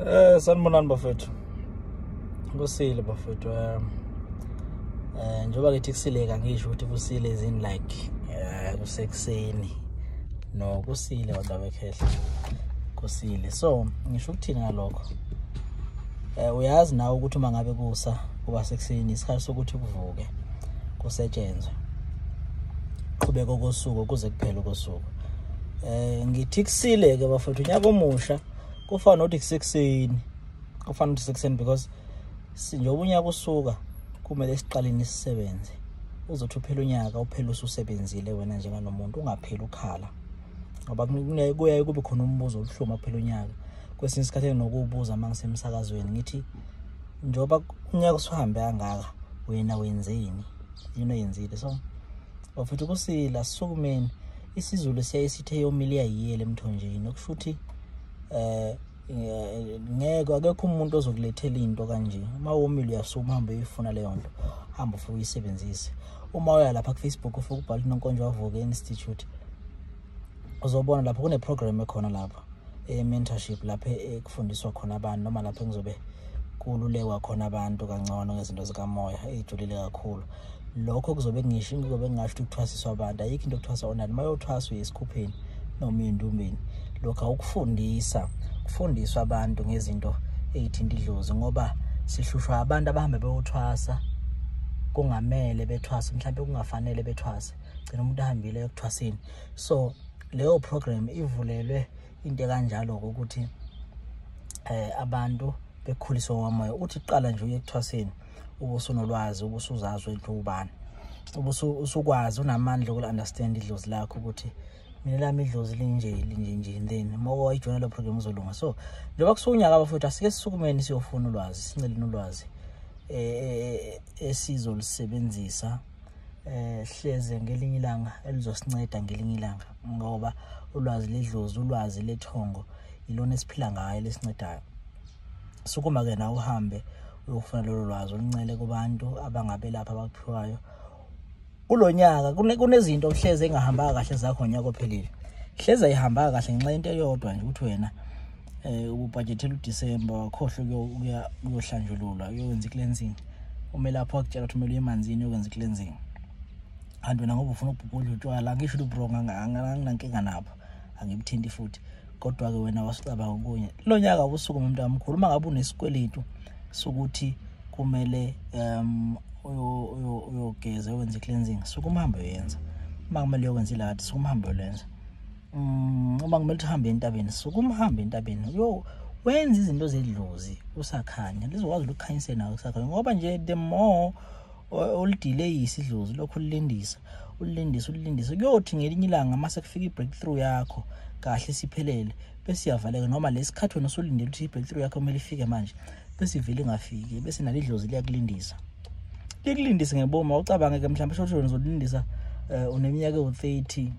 Eh sanibonani bafethu. Kusile bafethu. Eh, eh njoba ngithi kusileka ngisho ukuthi kusile izini like eh kusekuseni. No kusile kodwa bekhehla. Kusile. So ngisho ukuthini ngalokho? Eh uyazi nawe ukuthi uma ngabe kusa kuba sekuseni isikhathi sokuthi kuvuke kusetshenzwe. Qhubeka kosuku kuze kuphele kosuku. Eh ngithi kusile ke bafethu unyaka omusha. kufana nokuthi kusekuseni kufana nokuthi sekuseni because sinjengoba unyaka usuka kumele siqaleni sisebenze uzothi uphela unyaka uphele ususebenzile wena njenganomuntu ungapheli ukhala ngoba kuyaye kube khona umbuzo obuhlungu aphela unyaka kwesinye isikhathi enginokuwubuza uma ngisemsakazweni ngithi njengoba unyaka usuhambe kangaka wena wenzeni yini oyenzile so bafethu kusila sukumeni isizulu siyaye sithe yomile iyayiyela emthonjeni okusho ukuthi eh, eh ngeke akekho umuntu ozokulethela into kanje uma womile uyasuma hambe uyifuna leyo nto hamba ufike uyisebenzise uma uya lapha kufacebook ufike ubhala inonkonjwa wavuka institute uzobona lapho kuneprogram ekhona lapho e-mentorship lapho ekufundiswa khona abantu noma lapho engizobe kululekwa khona abantu kangcono ngezinto zikamoya eyijulile kakhulu lokho kuzobe kungisho ngizobe ngingasho ukuthi kuthwasiswa abantu ayikho into okuthwasa onani uma yothwaswa esikhupheni noma uyindumbeni lokhu awukufundisa kufundiswa abantu ngezinto eyithinta idlozi ngoba sihlushwa abantu abahamba beyothwasa kungamele bethwase mhlawumbe kungafanele bethwase gcina umuntu ahambile ekuthwaseni so leyo program ivulelwe into kanjalo ukuthi eh abantu bekhuliswa ngomoya uthi qala nje uyekuthwaseni ubusunolwazi ubusuzazi wenhle ubani usukwazi unamandla okuunderstand idlozi lakho ukuthi mina lami idlozi linje linje nje then moko ijoyina lo program uzolunga so njengoba kusukunyaka abafowethu asike sisukumeni siyofuna ulwazi sinceleni ulwazi eh, eh, eh esizolisebenzisa eh hleze ngelinye ilanga elizosinceda ngelinye ilanga ngoba ulwazi ledlozi ulwazi lethongo ilona esiphila ngayo lesincedayo sukuma ke na uhambe uyofuna lolu lwazi oluncele kubantu abangabelapha abakuphiwayo kulonyaka kunezinto hleze engahambanga kahle zakho ngonyaka ophelile hleze ayihambanga kahle ngenxa into eyodwa nje ukuthi wena eh ububhajethela uDecember wakhohle kuya kuyohlanjululwa uyokwenza icleansing umelaphi wakutshela ukuthi kumele emanzini uyokwenza icleansing kanti wena ngoba ufuna ukubhubhudla utshwala angisho ukuthi ubronga anginankinga nabo angibuthinti futhi kodwa-ke wena wasicabanga okunye lo nyaka ubusuku umuntu amkhulu uma ngabe unesikweletu sokuthi kumele um uyogeza wenze i-cleansing suke umhambe uyenza uma kumele uyokwenza ilakade suke umhambe ulenza Mm, uma kumele uhambe entabeni sukuma uhambe entabeni yo wenza izinto zedlozi kusakhanya lizokwazi ukukhanyise nawe kusakhanya ngoba nje the more olidileyisa idlozi lokho ulilindisa ulilindisa ulilindisa kuyothi ngelinye ilanga mase kufika i-breakthrough yakho kahle siphelele bese iyavaleka noma lesikhathi wena usulindele ukuthi i-breakthrough yakho kumele ifike manje bese ivele ingafiki bese nalo idlozi liyakulindisa likulindise ngeboma ucabange ke mhlawumbe shosho ngizolindisa eh, uneminyaka ewu-30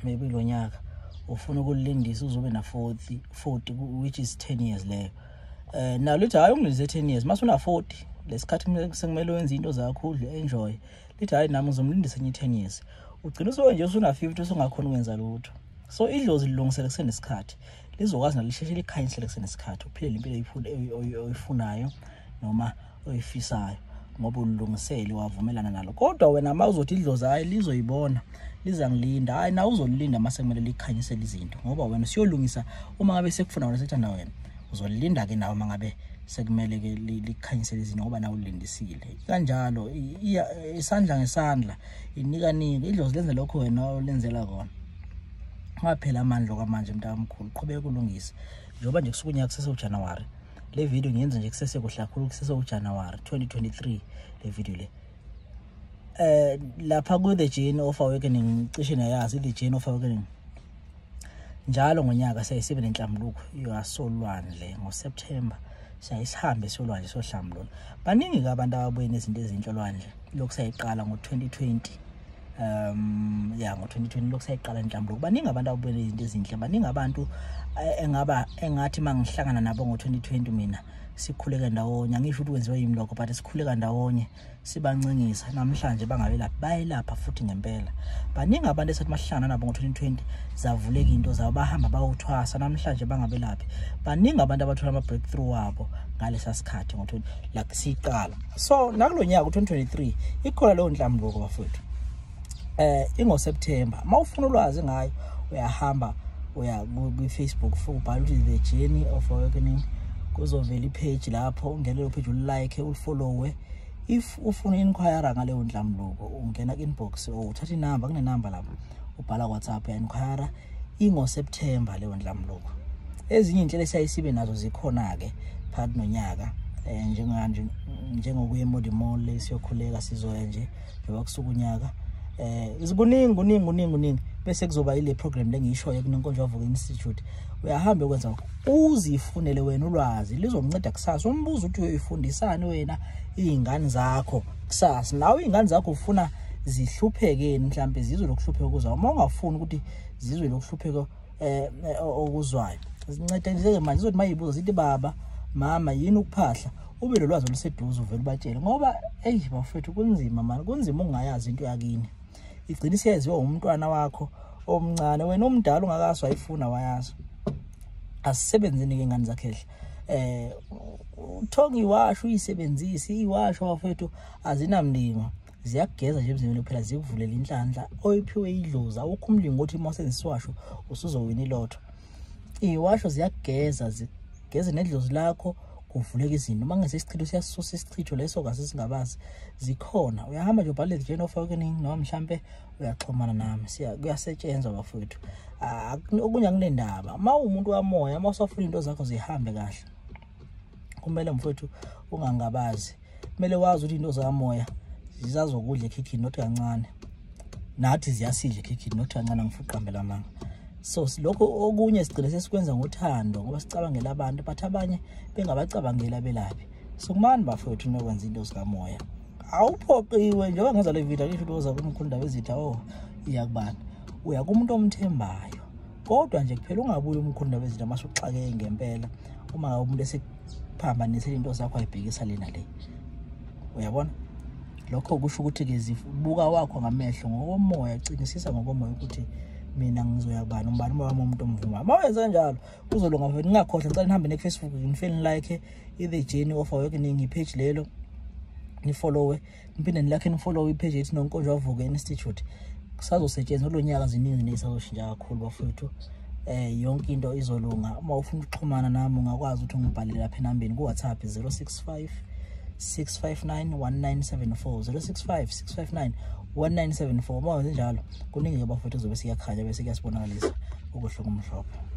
maybe lo nyaka ufuna ukulindisa uzobe na-40 40 which is 10 years leyo um nalo lithi hhayi ungilise 10 years mase una-40 lesikhathi sekumele wenze into zakho udle enjoy lithi hhayi nami ngizomlindisa enye i-10 years ugcina usuke nje usuna-50 usungakhona ukwenza lutho so idlozi lilungisele kusenesikhathi lizokwazi nalo lisheshe likhanyisele kusenesikhathi uphilele impilo oyifunayo noma oyifisayo ngoba ulungisele wavumelana nalo kodwa wena uma uzothi idlozi hhayi lizoyibona lizangilinda hhayi nawe uzolilinda uma sekumele likhanyisele izinto ngoba wena siyolungisa uma ngabe sekufuna wena sekuthanda wena uzolilinda-ke nawe uma ngabe sekumele-ke likhanyisele izinto ngoba nawe ulindisile kanjalo isandla ngesandla inika nike idlozi lenze lokho wena olenzela kona ungaphela amandla okwamanje mntakamkhulu qhubeka kulungise njengoba nje kusuke unyaka kusese ujanuwari le video ngiyenza nje kusese kuhle kakhulu kusese ujanuwari 2023 le video le eh lapha ku the chain of awakening cishe nayazi the chain of awakening njalo ngonyaka siyayisibe nenhlambuluko yasolwandle ngoSeptember siyayisihambe solwandle sohlambululo baningi ke abantu ababuyena izinto ezinhlolwandle lokhu sayiqala ngo-2020 um ya ngo-2020 lokhu sayiqala inhlambulo baningi abantu abubele izinto ezinhle baningi abantu eh, engaba engathi uma ngihlangana nabo ngo-2020 mina sikhuleke ndawonye angisho ukuthi kwenziwe yimi lokho but sikhuleka ndawonye sibancingisa namhlanje bangabelaphi bayelapha futhi ngempela baningi abantu esathi mahlangana nabo ngo-2020 zavuleka into zabo bahamba bawuthwasa namhlanje bangabelaphi baningi abantu abathola ama-breakthrough wabo ngalesa sikhathi ngo-20 like siyiqala so nakulo nyaka u-2023 ikhona leyo nhlambuluko bafowethu eh ingoSeptember mawufuna ulwazi ngayo uyahamba uya kwi-Facebook ubhala ukuthi the journey of awakening kuzovela i-page lapho ungena leyo page ulike ulifollowe if ufuna inquire ngaleyo ndlamluko ungena ku-inbox or uthatha inamba kunenamba lapho ubhala whatsapp ya-inquire ingoSeptember leyo ndlamluko ezinye inhlelo esayisibe nazo zikhona ke phakathi nonyaka eh njenganje njengokuya eModi Mall siyokhuleka sizoya nje njengoba kusuku unyaka eh izikuningi kuningi kuningi kuningi bese kuzoba ile program lengiyishoyo kunenkonzo yavuka institute uyahamba ukwenza uzifunele wena ulwazi lizokunceda kusasa umbuzo uthi uyoyifundisani wena izingane zakho kusasa nawe iy'ngane zakho ufuna zihluphekeni mhlawumbe zizwe lokuhlupheka okuzayo uma ungafuni ukuthi zizwe lokuhlupheka um eh, eh, okuzwayo zinceda nje-ke manje zizothi uma yibuza zithi baba mama yini ukuphahla ube lo lwazi oluseduze uvele ubatshele ngoba eyi bafethu kunzima mani kunzima ungayazi into yakini igcina isiyaziwa umntwana wakho omncane wena omdala ungakazi wayifuna wayazi asisebenzini-ke ingane zakhehle eh uthonga iwasho uyisebenzise iwasho bafethu azinamlingo ziyakugeza nje emzimbeni kuphela zikuvulela inhlanhla oyiphiwe idlozi awukho umlingo othi uma usenzisiwasho usuzowina ilotho iwasho ziyakugeza zigeze nedlozi lakho kuvuleka izinto uma ngese isichitho siyasusa isichitho leso kaze singabazi zikhona uyahamba nje ubhalele nje nofake kuningi noma mhlampe uyaxhumana nami siya kuyasetshenzwa bafowethu ah, okunye akunendaba uma uwumuntu wamoya uma usafuna into zakho zihambe kahle kumele mfowethu ungangabazi kumele wazi ukuthi into zakamoya zizazokudla ekhikhini not kancane nathi ziyasidla ekhikhini not kancane ngifuqambela manga so lokho okunye sigcine sesikwenza ngothando ngoba sicabangela abantu but abanye bengabacabangeli abelaphi so kumani bafowethu nokwenza into zikamoya awuphoqiwe njengoba ngenza le video ngisho ukuthi oza kumkhulu ndaba ezitha o oh, iya kubani uya kumuntu omthembayo kodwa nje kuphela ungabuye umkhulu ndaba ezitha mase uxakeke ngempela uma umuntu esiphambanisela into zakho ayibhekisa lena le uyabona lokho kusho ukuthi-ke zibuka wakho ngamehlo ngokomoya cinisisa ngokomoya ukuthi mina ngizoya kubani umbani uma wami umuntu omvuma uma wenze kanjalo kuzolunga ningakhohlwa ngicela nihambe nekufacebook ngifeni like i-the journey of awakening ipage lelo nifollowe niphinde nilakhe nifollowe ipage ethi nonkonjwa avuke institute kusazosetshenzwa kulo nyaka ziningi nezisazoshintsha kakhulu bafowethu eh yonke into izolunga uma ufuna ukuxhumana nami ungakwazi ukuthi ungibhalele lapha enambeni ku-whatsapp 065 659 1974 065 659 1974 uma wenze njalo kuningi-ke bafowethu kuzobe siyakhanya bese kuyasibonakalisa ukuhluka umhlophe